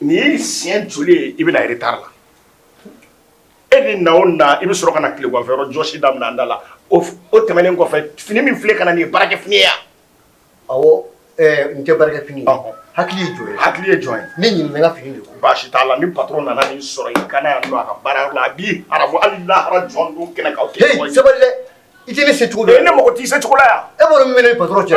Nin ye siɲɛ joli ye i bɛ na retard la e ni na na i bɛ sɔrɔ ka na tilegan fɛ jɔsi da da la o tɛmɛnen kɔfɛ fini min filɛ i kan na nin baarakɛ fini ya n tɛ baarakɛ fini hakili jɔn hakili ye jɔn ye ne ɲininka fini ko baasi t'a la ni patron nana ni sɔrɔ i kana yan don a ka baara la a bi arabu alilahara jɔn don kɛnɛ sabali i tɛ ne se cogo ne mɔgɔ tɛ se cogo yan e minɛ patron cɛ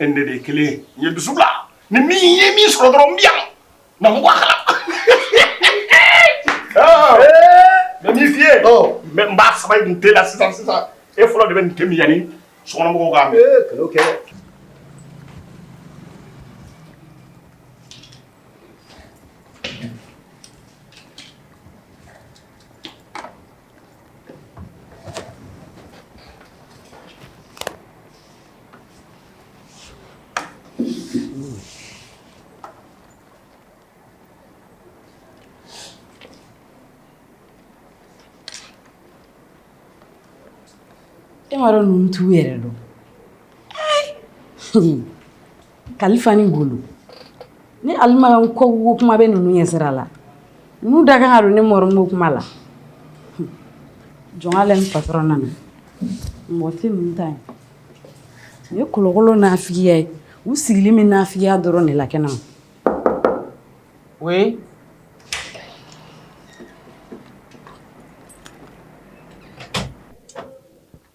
E de ye kelen ye dusu la ni min ye min sɔrɔ dɔrɔn bi yan na ko a kala mɛ min fi ye mɛ n ba saba in tɛ la sisan sisan e fɔlɔ de bɛ nin tɛmi yanni sokɔnɔmɔgɔw k'a mɛn kɛ E m'a dɔn ninnu t'u yɛrɛ dɔn Kalifa ni Ngolo ni alima ko ko kuma bɛ ninnu ɲɛ sira la nu dakan don ni mɔgɔ makuma la jɔn patron nana mɔ tɛ ninnu ta yen u ye kolokolo naafigiya ye u sigilen bɛ naafigiya dɔrɔn de la kɛnɛma oui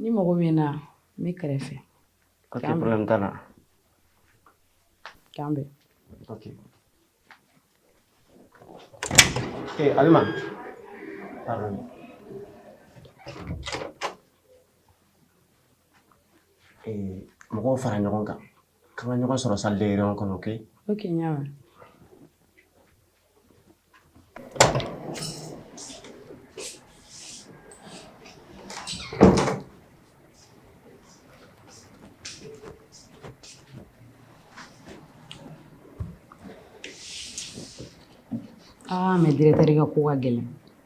ni mago bɛ n na n bɛ kɛrɛfɛ k'an bɛn Eh, Alima. Eh, mɔgɔw fara ɲɔgɔn kan. K'an ka ɲɔgɔn sɔrɔ salle de réunion kɔnɔ, ok? Ok, n y'a mɛn. Aa mɛ dɛrɛtɛri ka ko ka gɛlɛn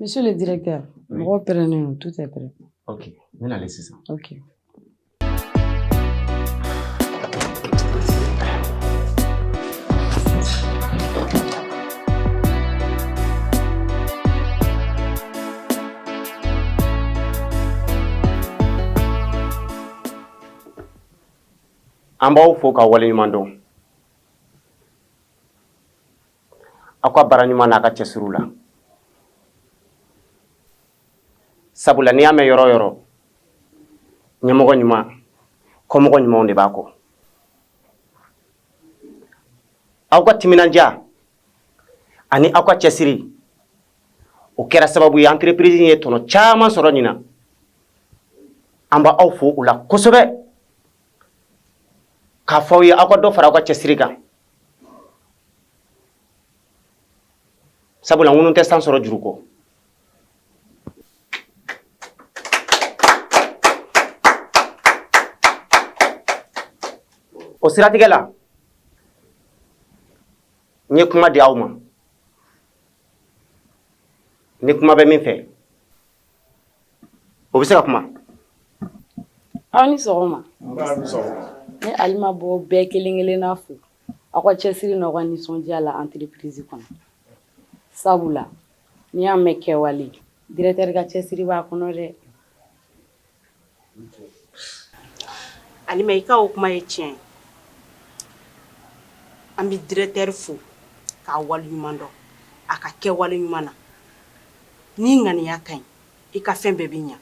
Monsieur le directeur, mɔgɔ pɛrɛnnen don, tout est prêt. Ok, n bɛ na ale sisan. Ok. An b'aw fo ka waleɲuman dɔn. aw ka baara ɲuman n'aw ka cɛsiriw la sabula n'i y'a mɛn yɔrɔ o yɔrɔ ɲɛmɔgɔ ɲuman kɔmɔgɔ ɲumanw de b'a kɔ aw ka timinandiya ani aw ka cɛsiri o kɛra sababu ye entreprise ye tɔnɔ caman sɔrɔ ɲinan an b'aw fo o la kosɛbɛ k'a fɔ aw ye aw ka dɔ fara aw ka cɛsiri kan Sabula ŋunu tɛ san sɔrɔ juru kɔ o siratigɛ la n ye kuma di aw ma ni kuma bɛ min fɛ o bɛ se ka kuma aw ni sɔgɔma ne Alima b'aw bɛɛ kelen kelenna fo aw ka cɛsiri n'aw ka nisɔndiya la entreprise kɔnɔ sabula n'i y'a mɛn kɛwale directeur ka cɛsiri b'a kɔnɔ dɛ Alima i ka o kuma ye tiɲɛ ye an bɛ directeur fo k'a waleɲuman dɔn a ka kɛwale ɲuman na n'i ŋaniya ka ɲi i ka fɛn bɛɛ bɛ ɲɛ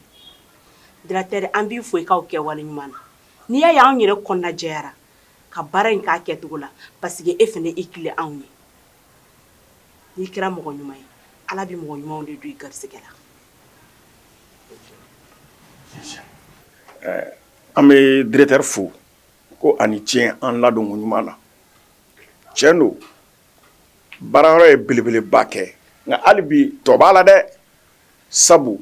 directeur an b'i fo i ka o kɛwale ɲuman na n'i y'a ye an yɛrɛ kɔnɔna jɛyara ka baara in k'a kɛcogo la paseke e fana i tilen anw ye n'i kɛra mɔgɔ ɲuman ye ala bɛ mɔgɔ ɲumanw de don i garisɛgɛ la an bɛ directeur fo ko a ni ce an ladonko ɲuman na cɛn don baara yɔrɔ ye belebeleba kɛ nka hali bi tɔ b'a la dɛ sabu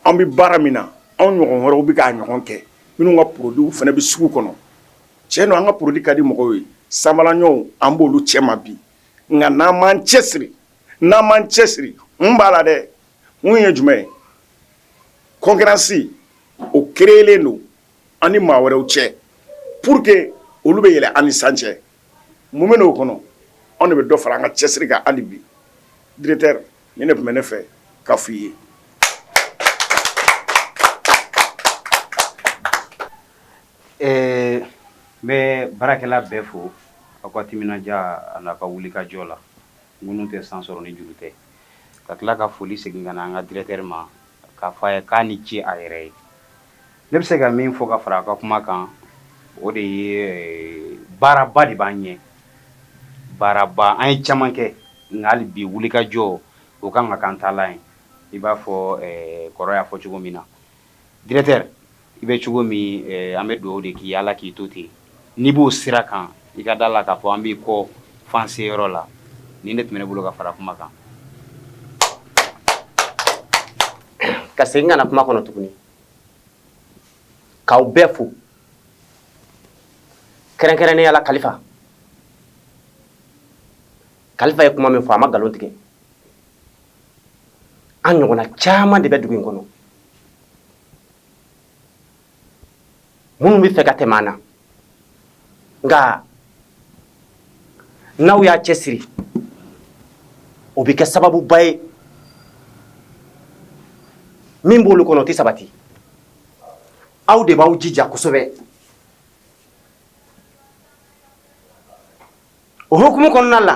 an bɛ baara min na anw ɲɔgɔn wɛrɛw bɛ k'a ɲɔgɔn kɛ minnu ka porodiw fana bɛ sugu kɔnɔ cɛn don an ka porodi ka di mɔgɔw ye sa an baaraɲɔgɔnw an b'olu cɛma bi nka n'an m'an cɛsiri n'an m'an cɛsiri mun b'a la dɛ mun ye jumɛn ye concurrence o créelen don an ni maa wɛrɛw cɛ pour que olu bɛ yɛlɛ an ni san cɛ mun bɛ o kɔnɔ anw de bɛ dɔ fara an ka cɛsiri kan hali bi nin de tun bɛ ne fɛ ka fɔ i ye ɛɛ n bɛ baarakɛla bɛɛ fo aw ka timinandiya an'a ka wulikajɔ la ŋunu tɛ san sɔrɔ ni juru tɛ ka tila ka foli segin ka na an ka directeur ma k'a fɔ a ye k'a ni ce a yɛrɛ ye Ne bɛ se ka min fɔ ka fara a ka kuma kan o de ye baaraba de b'an ɲɛ baaraba an ye caman kɛ nka hali bi wulikajɔ o ka kan k'an taalan ye i b'a fɔ kɔrɔ y'a fɔ cogo min na directeur i bɛ cogo min an bɛ dugawu de k'i ala k'i to ten n'i b'o sira kan i ka d'a la k'a fɔ an b'i kɔ f'an seyɔrɔ la nin de tun bɛ ne bolo ka fara kuma kan ka segin ka na kuma kɔnɔ tuguni k'aw bɛɛ fo kɛrɛnkɛrɛnnenya la kalifa kalifa ye kuma min fɔ a ma nkalon tigɛ an ɲɔgɔnna caman de bɛ dugu in kɔnɔ minnu bɛ fɛ ka tɛmɛ an na nka n'aw y'a cɛ siri o bɛ kɛ sababuba ye min b'olu kɔnɔ o tɛ sabati aw de b'aw jija kosɛbɛ o hukumu kɔnɔna la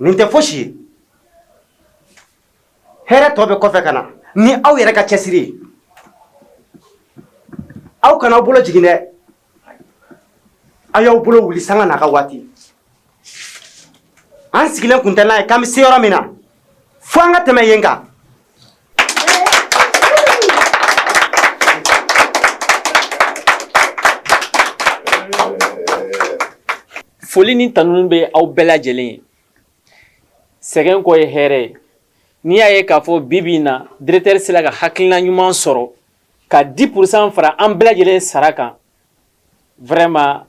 Nin tɛ fosi ye hɛrɛ tɔ bɛ kɔfɛ ka na ni aw yɛrɛ ka cɛsiri ye aw kana aw bolo jigin dɛ aw y'aw bolo wuli sanga n'a ka waati an sigilen tun tɛ n'a ye k'an bɛ se yɔrɔ min na fo an ka tɛmɛ yen kan foli ni tanuni bɛ aw bɛɛ lajɛlen ye sɛgɛn kɔ ye hɛrɛ ye n'i y'a ye k'a fɔ bi bi in na directeur sera ka hakilina ɲuman sɔrɔ ka 10% fara an bɛɛ lajɛlen sara kan Vraiment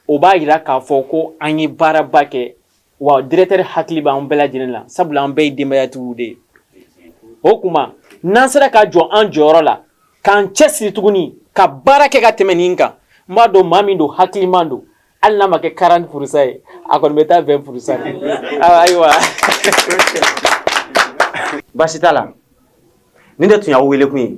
o b'a jira k'a fɔ ko an ye baaraba kɛ wa directeur hakili b'an bɛɛ lajɛlen la sabula an bɛɛ ye denbayatigiw de ye o tuma n'an sera ka jɔ an jɔyɔrɔ la k'an cɛ siri tuguni ka baara kɛ ka tɛmɛ nin kan n b'a dɔn maa min don hakiliman don hali n'a ma kɛ 40% ye a kɔni bɛ taa 20% ayiwa baasi t'a la nin de tun y'aw wele kun ye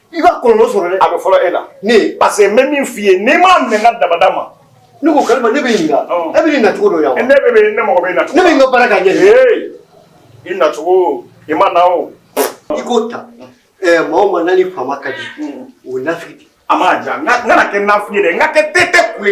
i b'a kɔlɔlɔ sɔrɔ dɛ a bɛ fɔlɔ e la ne parce que n bɛ min f'i ye n'i m'a minɛ n ka dabada ma ne ko kalima ne bɛ ɲininka e bɛ nin nacogo dɔn yan ne bɛ bɛ ne mago bɛ nacogo ne bɛ n ka baara k'a ɲɛ de i nacogo i ma na o i k'o ta ɛɛ maa o maa n'a ni faama ka di o ye nafigi de ye a ma ja n ka n kana kɛ nafigi ye dɛ n ka kɛ tete kule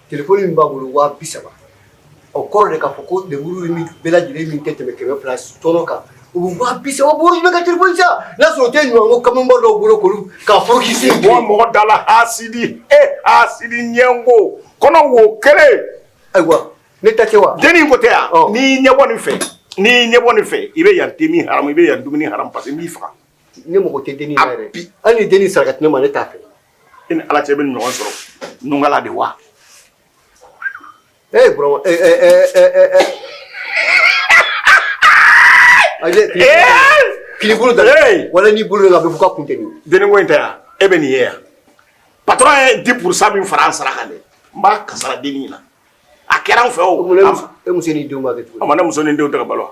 Tilefɔni min b'a bolo waa bi saba o kɔrɔ de k'a fɔ ko lemuru min bɛɛ lajɛlen min tɛ tɛmɛ kɛmɛ fila tɔɔrɔ kan o bɛ waa bi saba bɔ i bɛ ka tilefɔni san n'a sɔrɔ o tɛ ɲuman ko kamalen dɔw bolo kulu ka furukisi bɔ mɔgɔ da la hasidi e hasidi ɲɛngo kɔnɔ wo kelen ayiwa ne tɛ se wa denni ko tɛ yan n'i ɲɛbɔ nin fɛ n'i ɲɛbɔ nin fɛ i bɛ yan te min haramu i bɛ yan dumuni haramu parce que n b'i faga ne mago tɛ denni na yɛrɛ hali ni den saraka ne ma ne t'a fɛ e ni ala cɛ bɛ ɲɔgɔn sɔrɔ nugala de wa ee bro ee ee ee ee ee aje k'i bolo da wala n'i bolo la a bɛ fɔ k'a kun tɛ nin deniko in tɛ yan e bɛ nin ye yan patron ye 10% min fara an sara kan dɛ n b'a kasara denni na a kɛra an fɛ o e muso n'i denw b'a kɛ cogo di a ma ne muso ni denw tɛ ka balo wa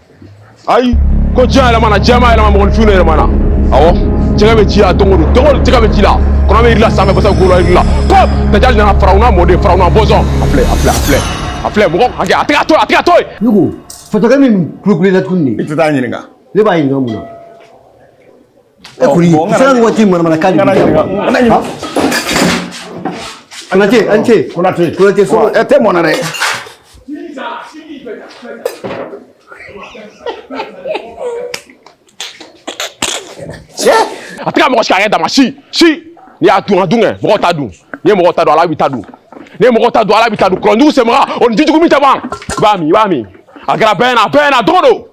ayi ko diɲɛ yɛlɛmana diɲɛ ma yɛlɛma mɔgɔninfin de yɛlɛmana awɔ jɛgɛ bɛ ji la don o don don o don jɛgɛ bɛ ji la kɔnɔ bɛ yiri la sanfɛ basa golo yiri la ko Dajali nana farawuna mɔden farawuna bɔnsɔn a filɛ a filɛ a filɛ a filɛ mɔgɔ hakɛ a tɛ ka to a tɛ ka to yen. ne ko fatɔkɛ min kulukulu la tuguni de. i tɛ taa ɲininka. ne b'a ɲininka mun na. E kɔni sira ni waati manamana kan de Konate a ni ce Konate Konate so ɛ tɛ mɔna dɛ Cɛ a tɛ ka mɔgɔ si ka kɛ dama si si n'i y'a dun a dun kɛ mɔgɔw ta dun n'i ye mɔgɔw ta dun Ala b'i ta dun n'i ye mɔgɔw ta dun Ala b'i ta dun kɔlɔnjugu senbaga o ni jijugu min tɛ ban i b'a min i b'a min a kɛra bɛɛ ɲɛna a bɛɛ ɲɛna a dogo don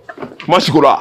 ma sigi o la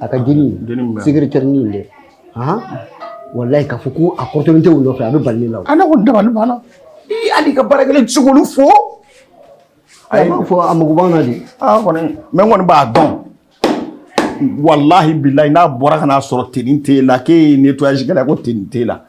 a ka jeni secrétairenin in dɛ walayi k'a fɔ ko a kɔrɔtɔlen tɛ u nɔfɛ a bɛ bali ne la a ne ko dabali banna i hali ka baarakɛlen tɛ se k'olu fo a b'a fɔ a mago b'an na de aa kɔni mɛ n kɔni b'a dɔn walahi bilayi n'a bɔra ka n'a sɔrɔ tenue t'e la k'e ye nettoyage kɛla ko tenue t'e la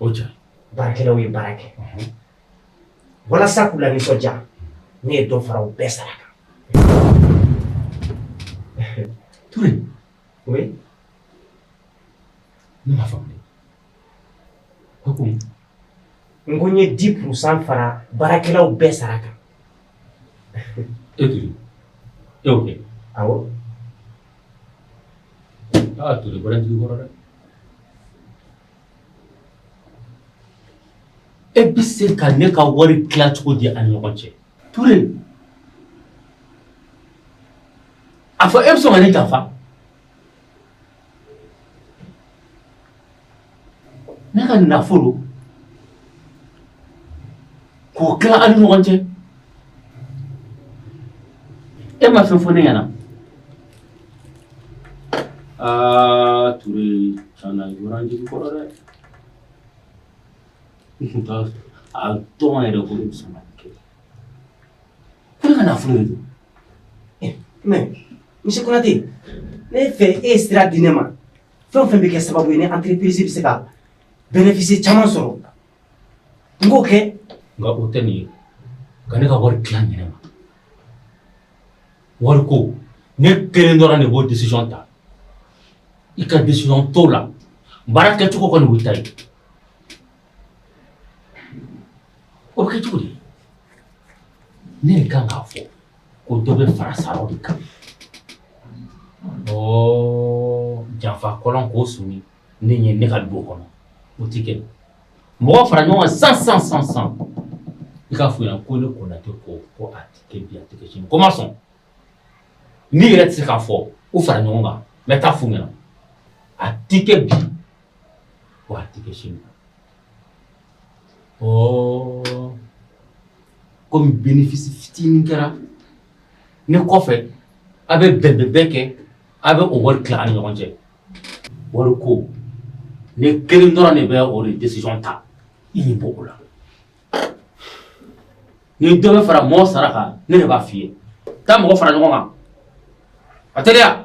o diyara baarakɛlaw ye baara kɛ walasa k'u lanisɔndiya ne ye dɔ fara u bɛɛ sara kan Ture oui ne m'a faamu dɛ ko ko n ko n ye 10 pourcent fara baarakɛlaw bɛɛ sara kan e Ture e y'o kɛ awɔ aa Ture bɔra jigi kɔrɔ dɛ E bɛ se ka ne ka wari tila cogo di a ɲɔgɔn cɛ Ture a fɔ e bɛ sɔn ka ne janfa ne ka nafolo k'o tila an ni ɲɔgɔn cɛ e ma fɛn fɔ ne ɲɛna aa Ture tiɲɛ na i bɔra n jigi kɔrɔ dɛ n tun t'a dɔn yɛrɛ ko ne bɛ sɔn ka nin kɛ ko ne ka nafolo de don mais monsieur Konate ne fɛ e ye sira di ne ma fɛn o fɛn bɛ kɛ sababu ye ni entreprise bɛ se ka bénéfice caman sɔrɔ N k'o kɛ? Nga o tɛ nin ye. Ka ne ka wari tila n ɲinɛ ma. Wari ko ne kelen dɔrɔn de b'o decision ta. I ka decision t'o la. Baara kɛcogo kɔni o y'i ta ye. O bɛ kɛ cogo di? Ne de kan k'a fɔ ko dɔ bɛ fara saraw de kan. Ɔɔ janfa kɔlɔn k'o siri. ne ɲɛ ne ka du kɔnɔ o tɛ kɛ mɔgɔw fara ɲɔgɔn kan san san san i k'a fɔ u ɲɛna ko ne Konate ko ko a tɛ kɛ bi a tɛ kɛ sini ko n ma sɔn n'i yɛrɛ tɛ se k'a fɔ u fara ɲɔgɔn kan n bɛ t'a f'u ɲɛna a tɛ kɛ bi wa a tɛ kɛ sini ɔɔ komi benefisi fitinin kɛra ne kɔfɛ a bɛ bɛnbɛnbɛn kɛ a bɛ o wari tila an ni ɲɔgɔn cɛ wari ko ne kelen dɔrɔn de bɛ o de décision ta i ɲɛ b'o la ni dɔ bɛ fara mɔɔ sara kan ne de b'a f'i ye taa mɔgɔ fara ɲɔgɔn kan a teliya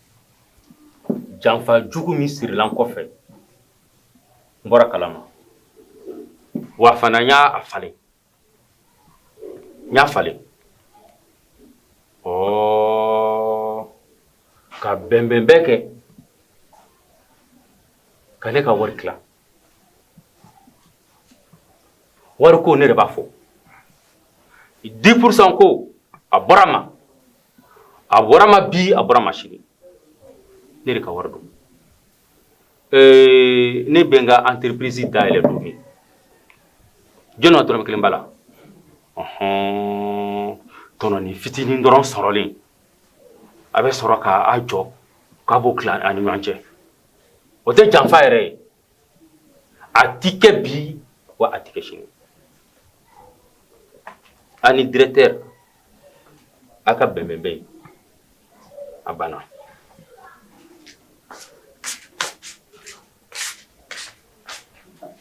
janfa jugu min sirila n kɔfɛ n bɔra kalama wa fana n y'a falen n y'a falen ɔɔ ka bɛnbɛn bɛɛ kɛ ka ne ka wari tila wari ko ne de b'a fɔ dix pourcent ko a bɔra ma a bɔra ma bi a bɔra ma sini ne de ka wari don ee ne bɛ n ka entreprise da yɛlɛ don min jɔn na dɔrɔmɛ kelen b'a la ɔhɔn tɔnɔni fitinin dɔrɔn sɔrɔlen a bɛ sɔrɔ k'a jɔ k'a b'o tila a ni ɲɔgɔn cɛ o tɛ janfa yɛrɛ ye a ti kɛ bi wa a ti kɛ sini a ni directeur a ka bɛnbɛn bɛ yen a banna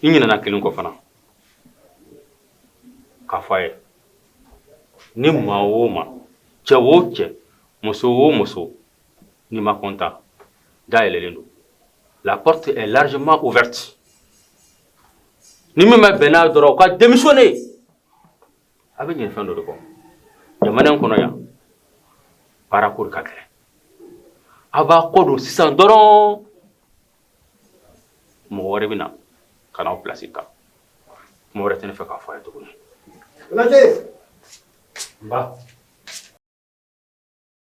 i ɲinɛna kelen kɔ fana k'a fɔ a ye ni maa o maa cɛ o cɛ muso o muso N'i ma content da yɛlɛlen don la porte est largement ouverte ni min ma bɛn n'a dɔrɔn o ka démissionner a bɛ ɲinɛ fɛn dɔ de kɔ jamana in kɔnɔ yan baara ko de ka gɛlɛn a b'a kɔ don sisan dɔrɔn mɔgɔ wɛrɛ bɛ na ka n'aw place ta kuma wɛrɛ tɛ ne fɛ k'a fɔ a ye tuguni